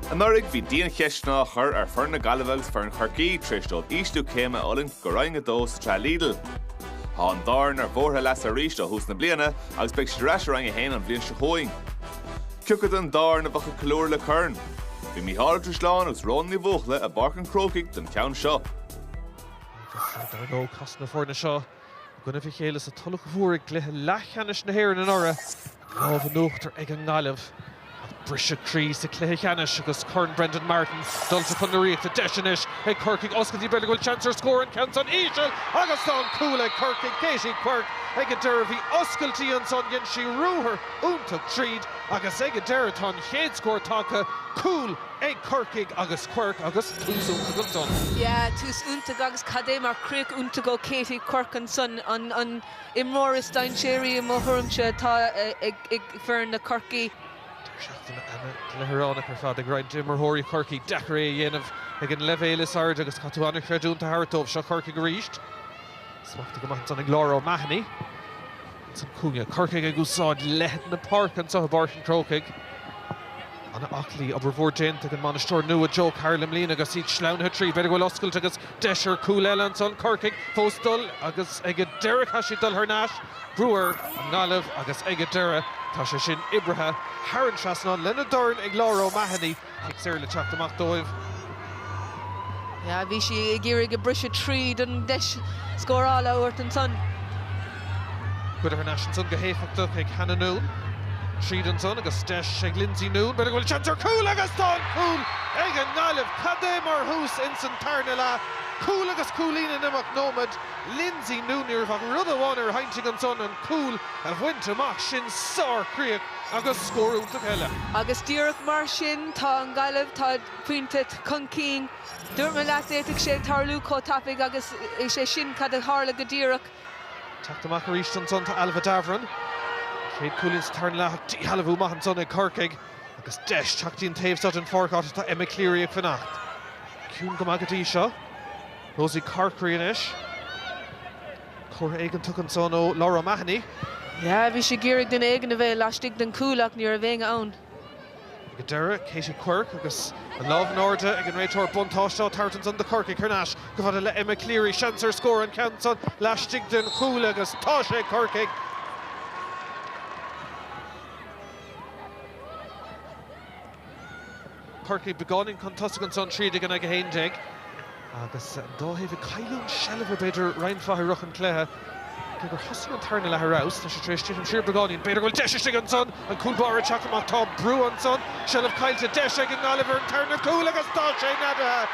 Anuraidh bhí diancheisteanna á chur ar fhoireann na Gaillimhe agus foireann Chorcaí tar éis dóibh ísliú céime a fhulaingt go Roinn 2 sa tsraith Lidl. Tá an dá fhoireann ar bhóithre leasa arís ó thús na bliana agus beidh siad ar ais i Roinn 1 an bhliain seo chugainn. Cioca den dá fhoireann a bheadh ag ceiliúradh le corn? Bhí Mícheál Ó Drisleáin agus Rhona Ní Bhuachalla i bPáirc an Chrócaigh don cheann seo. Agus idir an dó chas na foirne seo I gcoinnibh a chéile sa Tulach Mhór i gcluiche leathcheannais na hÉireann anuraidh, lámh in uachtar ag an nGaillimh ach briseadh croí sa chluiche ceannais agus Corn Brendan Martin dulta chun na Ríochta. Deis anois ag Corcaigh oscailt í, b'fhéidir go bhfuil seans ar scór an ceann san íseal agus tá an cúl ag Corcaigh, Katie Quirke. Ag an deireadh bhí oscailt í ansan, dhein sí ruathar iontach tríd agus ag an deireadh tá an chéad scór tagtha, cúl ag Corcaigh agus Quirke agus tús iontach ansan. Yeah, tús iontach agus cad é mar críoch iontach ó Katie Quirke ansan, an imreoir is dainséaraí i mo thuairimse atá ag foireann na Corcaí. Deireadh seachtaine ana ghleithireánach ar fad ag roinnt d'imreoirí Chorcaí. Deacair é a dhéanamh ag an leibhéal is airde agus caithfidh tú ana chreidiúint a thabhairt dóibh. Seo Corcaigh arís. Smacht go maith ansan ag Laura O'Mahony. Sa chúinne. Corcaigh ag úsáid leithead na páirce anseo i bPáirc an Chrócaigh. Ana-aclaí. Obair mhór déanta ag an mbainisteoir nua Joe Carroll i mbliana agus iad sleamhnaithe tríd. B'fhéidir go bhfuil oscailt agus deis ar chúl eile ansan Corcaigh fós dul agus ag an deireadh chaith sí dul thar n-ais, brú ar an nGaillimh agus ag an deireadh tá sé sin oibrithe thar an trasnán lena dorn ag Laura O'Mahony. Cic saor le teacht amach dóibh. Yeah, bhí sí ag iarraidh briseadh tríd an deis scórála a thabhairt ansan. Cuireadh thar n-ais ansan go héifeachtach ag Hannah Noone. Tríd ansan agus deis ag Lindsay Noone. B'fhéidir go bhfuil seans ar chúl agus tá an cúl ag an nGaillimh! Cad é mar thús ins an tarna leath. Cúl agus cúilín in imeacht nóiméad. Lindsay Noone, ní raibh ach rud amháin ar a haigne ansan, an cúl a bhaint amach. Sin sár-chríoch. Agus scór iontach eile. Agus díreach mar sin, tá an Ghaillimh, tá pointe chun cinn. Dúirt mé leat, d'fhéadfadh sé tarlú chomh tapaidh agus is é sin cad a tharla go díreach. Teacht amach arís ansan tá Ailbhe Davoren. An chéad cúilín sa tarna leath díshealbhú maith ansan ag Corcaigh agus deis teacht dtí'n taobh seo den pháirc áit atá Emma Cleary ag fanacht. Ciúin go maith go dtí seo. Rosie Corkery anois. Comhartha éigeantach ansan ó Laura O'Mahony. Yeah, bhí sí ag iarraidh duine éigin a bheith laistigh den chúl ach ní raibh éinne ann. Ag an deireadh, Katie Quirke agus an lámh in airde ag an réiteoir. Buntáiste á tabhairt ansan do Corcaigh thar n-ais. Go bhfuil le Emma Cleary. Seans ar scór. An ceann san laistigh den chúl agus tá sé ag Corcaigh! Chorcaí beagáinín chun tosaigh ansan, trí déag in aghaidh a haon déag, agus an dá thaobh ag cailliúint seilbh, b'fhéidir, roinnt mhaith i rith an chluiche. Cé gur thosaigh an tarna leath ar fheabhas, tá sé tar éis titim siar beagáinín. B'fhéidir go bhfuil deis istigh ansan, an cúl báire ag teacht amach, tá brú ansan, seilbh caillte, deis ag an nGaillimh ar an tarna cúl agus tá sé neadaithe!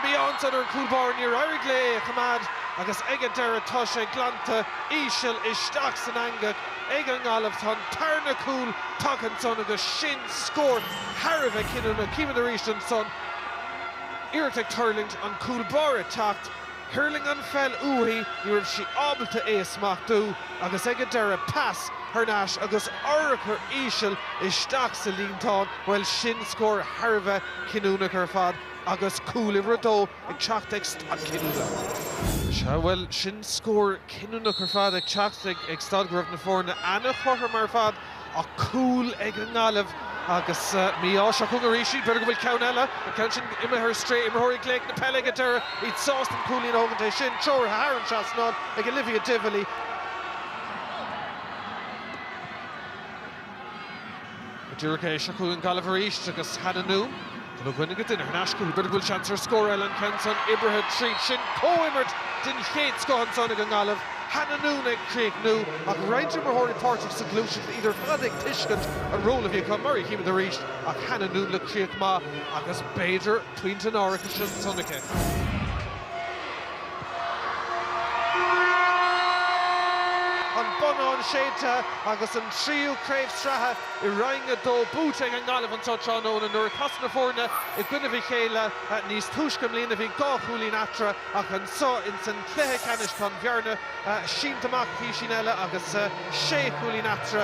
Mí-ádh ansan ar an cúl báire, níor éirigh léi é a choimeád agus ag an deireadh tá sé glanta íseal isteach san eangach. ag an nGaillimh. Tá an tarna cúl tagtha ansan agus sin scór thar a bheith cinniúnach. Chímid arís ansan iarracht ag tuirlingt, an cúl báire ag teacht, thuirling an pheil uaithi, ní raibh sí ábalta é a smachtú agus ag an deireadh pas thar n-ais agus urchar íseal isteach sa líontáin. Bhuel sin scór thar a bheith cinniúnach ar fad agus cúl uimhir a dó. ag teacht ag stad cinniúnach. Sea, bhuel, sin scór cinniúnach ar fad ag teacht ag stad go raibh na foirne an-chothrom ar fad ach cúl ag an nGaillimh agus mí-ádh. Seo chugainn arís iad. B'fhéidir go bhfuil ceann eile, an ceann sin imithe ar strae. Imreoirí ag gléic na peile ag an deireadh, iad sásta an cúilín a thógaint. É sin treoraithe thar an trasnán ag Olivia Divilly. Go díreach é, seo chugainn Gaillimh arís agus Hannah Noone bean agus duine in aisce. B'fhéidir go bhfuil seans ar scór eile an ceann san oibrithe tríd sin. Comhimirt den chéad scoth ansan ag an nGaillimh, Hannah Noone ag críochnú ach roinnt imreoirí páirteach sa ghluaiseacht, iad ar fad ag tuiscint an ról a bhí acu, mar a chímid arís ach Hannah Noone le críoch maith agus b'fhéidir pointe an árachais ansan aici. An bonnán séidte agus an tríú craobh sraithe i Roinn 2 buaite ag an nGaillimh anso tráthnóna nuair a casadh na foirne i gcoinnibh a chéile níos túisce i mbliana. Bhí dhá chúilín eatarthu ach anso ins an cluiche ceannais tá an bhearna sínte amach písín eile agus sé chúilín eatarthu.